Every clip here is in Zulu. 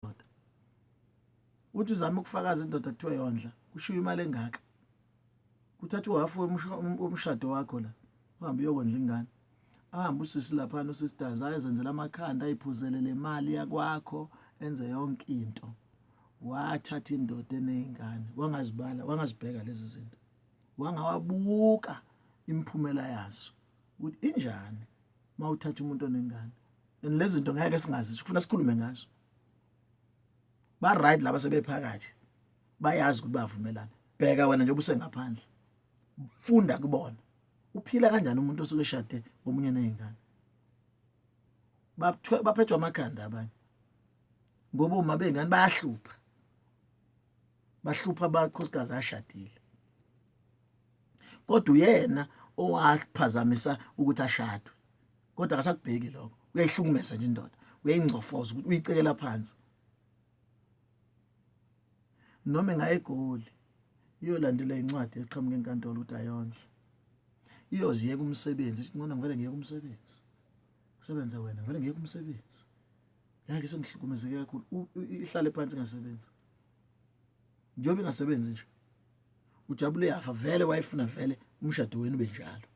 ndoda uthi uzama ukufakaza indoda kuthiwa yondla kushiwo imali engaka kuthatha uhafu womshado wakho la uhambe uyokondla ingane ahambe usisi laphana usisters ayezenzela amakhanda ayiphuzele le mali yakwakho enze yonke into wathatha indoda eney'ngane wangazibala wangazibheka lezi zinto wangawabuka imiphumela yazo ukuthi injani uma uthatha umuntu onengane and lezi zinto ngeke singazi kufuna sikhulume ngazo ba right laba sebephakathi bayazi ukuthi bavumelana bheka wena njengoba usengaphandle funda kubona uphila kanjani umuntu osuke eshade ngomunye nezingane baphethwa amakhanda abanye ngoba uma bengani bayahlupha bahlupha abakhosikazi ashadile kodwa uyena owaphazamisa ukuthi ashadwe kodwa akasakubheki lokho uyayihlukumeza nje indoda uyayingcofoza ukuthi uyicekela phansi noma engayegoli iyolandelwa incwadi eqhamuka enkantolo ukuthi ayondle iyoziyeka umsebenzi ithi ngona ngivele ngiyeke umsebenzi kusebenze wena ngivele ngiyeke umsebenzi ngeke sengihlukumezeke kakhulu ihlale phansi ingasebenzi njengoba ingasebenzi nje ujabule yafa vele wayefuna vele umshado wenu benjalo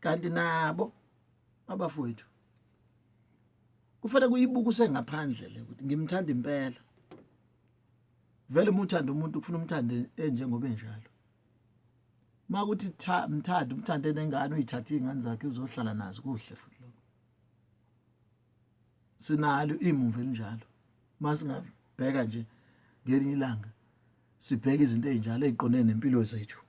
kanti nabo abafowethu kufanele kuyibuka usengaphandle le ukuthi ngimthanda impela vele uma uthanda umuntu kufuna umthande enjengoba enjalo uma kuthi mthanda umthande nengane uyithathe iy'ngane zakhe uzohlala nazo kuhle futhi lokho sinalo imumva elinjalo uma singabheka nje ngelinye ilanga sibheke izinto ey'njalo ey'qondene nempilo zethu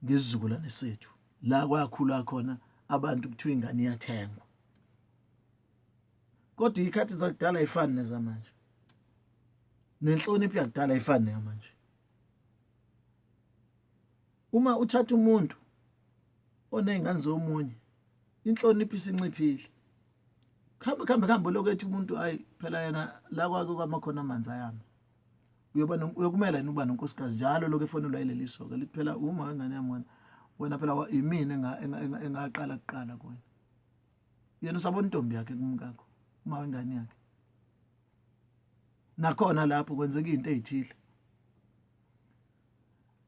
ngesizukulwane sethu la kwakhulwa khona abantu kuthiwa ingane iyathengwa kodwa ikhathi zakudala ayifani nezamanje nenhlonipho yakudala ayifani neyamanje uma uthatha umuntu oney'ngane zomunye inhlonipho isinciphile kuhambe kuhambe kuhambe lokhu ethi umuntu ayi phela yena la kwake kwamakhona amanzi ayama uyoba uyokumela yini ukuba nonkosikazi njalo lokho efonelwa yileli soka lithi phela uma wengane yami wena wena phela yimina engaqala kuqala kuwena yena usabona intombi yakhe kumkakho uma wengane yakhe nakhona lapho kwenzeka izinto ezithile